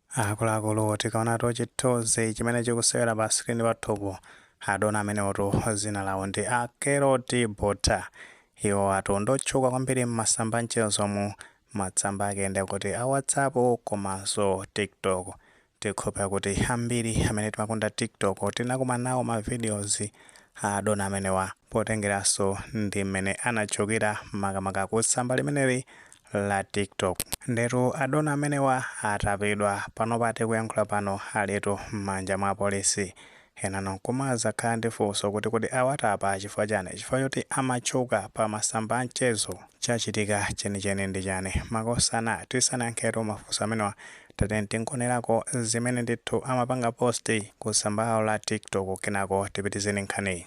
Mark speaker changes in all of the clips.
Speaker 1: Akuluakulu, tikaonatu chithunzi chimene chikusewera pa screen pathupo, adona amenewotu dzina lawo ndi a Keroti Botha. Iwotu ndotchuka kwambiri m'masamba anchezomu, masamba ake ndi akuti a WhatsApp komanso TikTok. Tikhulupira kuti ambiri amene timakonda TikTok tinakumana nawo ma videos a adona amenewa potengeranso ndi m'mene anatchukira makamaka ku tsamba limeneli la TikTok. Ndetu adona amenewa atapidwa panopa tikuyankhula pano alitu mmanja mwa apolisi. Enanu nkumazakhala ndi funso kuti kodi awatapa chifukwa chani? Chifukwa choti amatchuka pa masamba a mchezo? Chachitika chenicheni ndi chani? Makosana tisanayankhetu mafunso amenewa tatiyeni tingonerako zimene ndithu amapanga post ku tsamba lawo la TikTok kenako tipitize ndi nkhaniyi.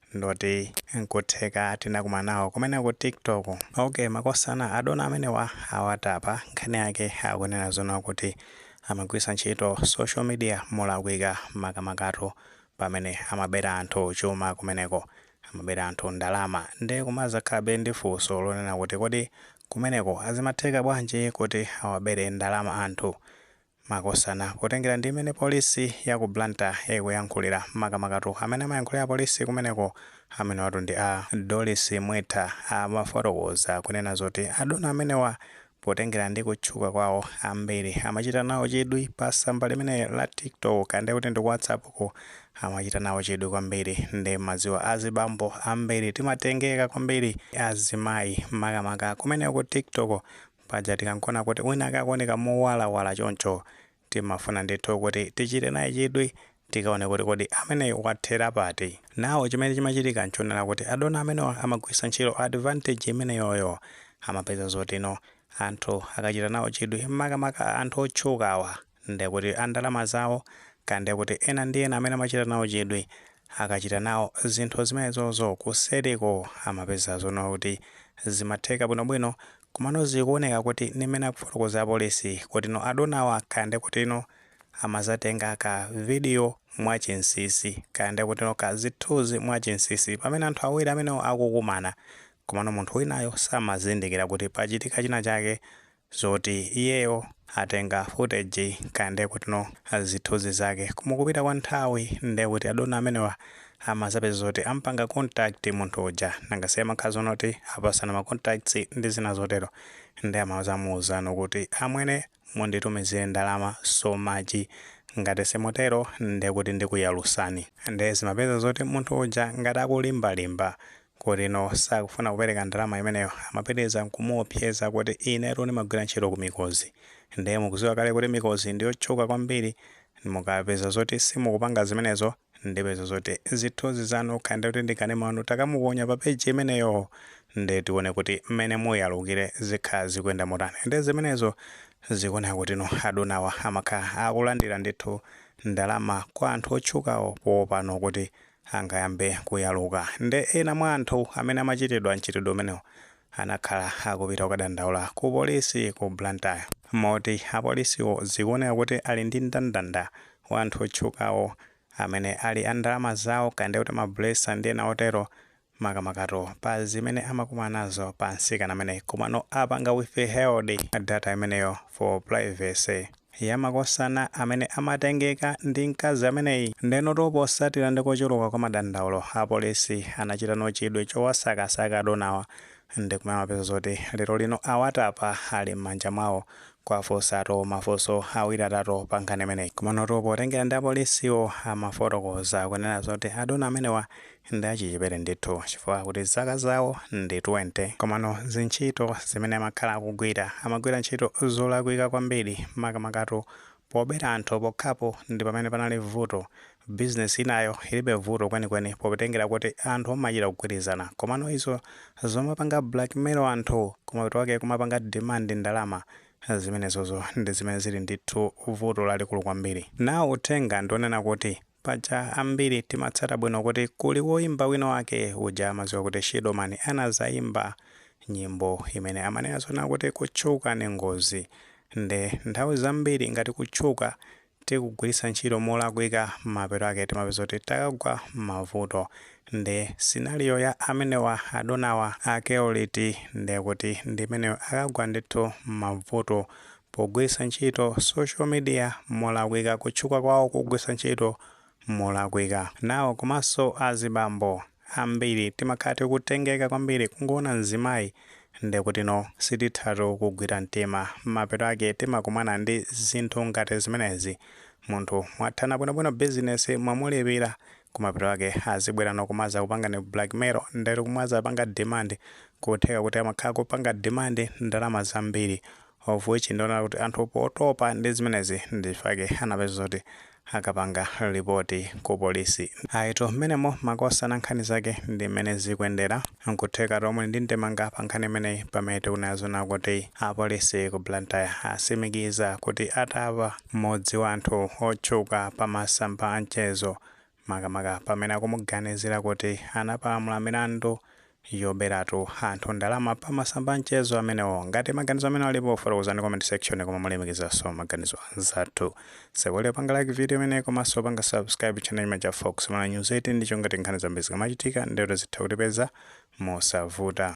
Speaker 1: ndoti nkutheka tinakumana nawo kumeneko ku tiktok ok makosana adona amenewa awatapa nkhani yake akunena zonena kuti amagwiritsa ntchito social media molakwika makamakatu pamene amabera anthu chuma kumeneko amabera anthu ndalama nde kumazakhalabe ndi funso lonena kuti kodi kumeneko azimatheka bwanji kuti awabere ndalama anthu makosana. Potengera ndi mmene polisi ya ku Blantyre ikuyankhulira, makamakatu amene amayankhulira apolisi kumeneko, amenewatu ndi a Doris Mwetha, amafotokoza kunena zoti adona amenewa potengera ndi kutchuka kwawo, ambiri amachita nawo chidwi pa tsamba limeneli la TikTok, kaya ndiye kuti ndi ku WhatsApp ko, amachita nawo chidwi kwambiri. Ndiye mumadziwa azibambo ambiri timatengeka kwambiri ndi azimayi makamaka kumeneko ku TikTok Paja tikangoona kuti winawake akuoneka mowalawala choncho, timafuna ndithu kuti tichite naye chidwi, tikaone kuti kodi ameneyu wathera pati. Now chimene chimachitika nchonena kuti adona amenewa amagwiritsa ntchito advantage imeneyoyo. Amapeza zotino anthu akachita nawo chidwi, makamaka anthu otchukawa. nde kuti a ndalama zawo ka nde kuti ena ndi ena amene amachita nawo chidwi akachita nawo zinthu zimenezozo kuseliko amapeza zonena kuti zimatheka bwinobwino komano zikuoneka kuti ndi mmene akufotokoza apolisi kutino adonawa ka nde kutino amazatenga ka video mwa chinsisi ka nde kutino ka zithunzi mwa chinsisi pamene anthu awiri amenewo akukumana komano munthu winayo samazindikira kuti pachitika china chake zoti iyeyo atenga footage kaya ndiye kutino zithunzi zake koma m'kupita kwa nthawi ndiye kuti adona amenewa amazapeza zoti ampanga contact munthu uja nanga si amakhala zonena kuti apasana ma contacts ndi zina zotero nde amazamuuzano kuti amwene munditumizire ndalama so much ngati simutero ndiye kuti ndikuyalusani ndiye zimapeza zoti munthu uja ngati akulimbalimba kuti no sakufuna kupereka ndalama imeneyo amapitiriza kumuopseza kuti inetu ndimagwira ntchito ku mikozi ndiye mukuziwa kale kuti mikozi ndiyotchuka kwambiri mukapeza zoti simukupanga zimenezo ndipeza zoti zithunzi zanu kaya ndi kuti ndi kanema wanu takamuponya pa peji imeneyo ndiye tione kuti mmene muyalukire zikhala zikuyenda motani ndiye zimenezo zikuoneka kuti no adonawa amakhala akulandira ndithu ndalama kwa anthu otchukawo poopano kuti angayambe kuyaluka. Nde ena mwa anthu amene amachitidwa mchitidwe umenewo anakhala akupita kukadandaula ku polisi ku Blantyre moti apolisiwo zikuoneka kuti ali ndi ndandanda wa anthu otchukawo amene ali a ndalama zawo kaya ndikuti ma blesser ndi ena otero makamakatu pa zimene amakumana nazo pa nsikana amene komano apanga withheld data imeneyo for privacy ya makosana amene amatengeka ndi mkazi ameneyi ndenoto potsatira ndi kuchuluka kwa madandaulo apolisi anachitano chidwi chowasakasaka adonawa ndi kumene amapeza zoti lero lino awatapa ali m'manja mwawo kuwafunsatu mafunso awiri atatu pa nkhani imeneyi komanotu potengera ndi apolisiwo amafotokoza kunena zoti adona amenewa ndi achichepere ndithu chifukwa akuti zaka zawo ndi 20 komano zintchito zimene amakhala akugwira amagwira ntchito zolakwika kwambiri makamakatu pobera anthu pokhapo ndi pamene panali vuto bizinesi inayo ilibe vuto kwenikweni potengera kuti anthu amachita kugwirizana komano izo zomapanga blackmail anthu kumapeto kwake kumapanga demand ndalama zimenezo ndi zimene zili ndithu vuto lalikulu kwambiri nawo uthenga ndi wonena kuti Paja ambiri timatsata bwino kuti kuli woimba wina wake uja amadziwika kuti Shido Man anadzaimba nyimbo imene amanena zonena kuti kutchuka ni ngozi nde nthawi zambiri ngati kutchuka tikugwiritsa ntchito molakwika mapeto ake timapeza kuti takagwa mmavuto nde scenario ya amenewa adonawa akewo ndekuti ndimeneyo akagwa ndithu mmabvuto pogwiritsa ntchito social media molakwika kutchuka kwawo kugwiritsa ntchito molakwika nawo komanso azibambo ambiri timakhala tikutengeka kwambiri kungoona mzimayi ndekuti no sitithatu kugwira mtima mapeto ake timakumana ndi zinthu ngati zimenezi munthu mwathana bwinobwino business mwamulipira kumapeto ake azibwerano kumazakupangani blackmail ndekuti kumazapanga demand kutheka kuti amakhala kupanga demand ndalama zambiri of which ndionera kuti anthu potopa ndi zimenezi ndichifake anapeza zoti akapanga lipoti ku polisi ayitu mmenemo makosana nkhani zake ndi mmene zikuyendera nkuthekatu mwe ndi ndemanga pa nkhani imeneyi pamene tikunena zonena kuti apolisi ku blantyre atsimikiza kuti atapa mmodzi wa anthu otchuka pa masamba a mchezo makamaka pamene akumuganizira kuti anapalamula milandu yoberatu anthu ndalama pa masamba a mchezo amenewo. Ngati maganizo amene alipo, fotokozani comment section koma mulemekezanso maganizo anzathu. Osaiwala kupanga like video imeneyi komanso kupanga subscribe channel chimene cha Fox Malawi News 18 n'cholinga choti nkhani zambiri zikamachitika n'zoti zitha kukupezani mosavuta.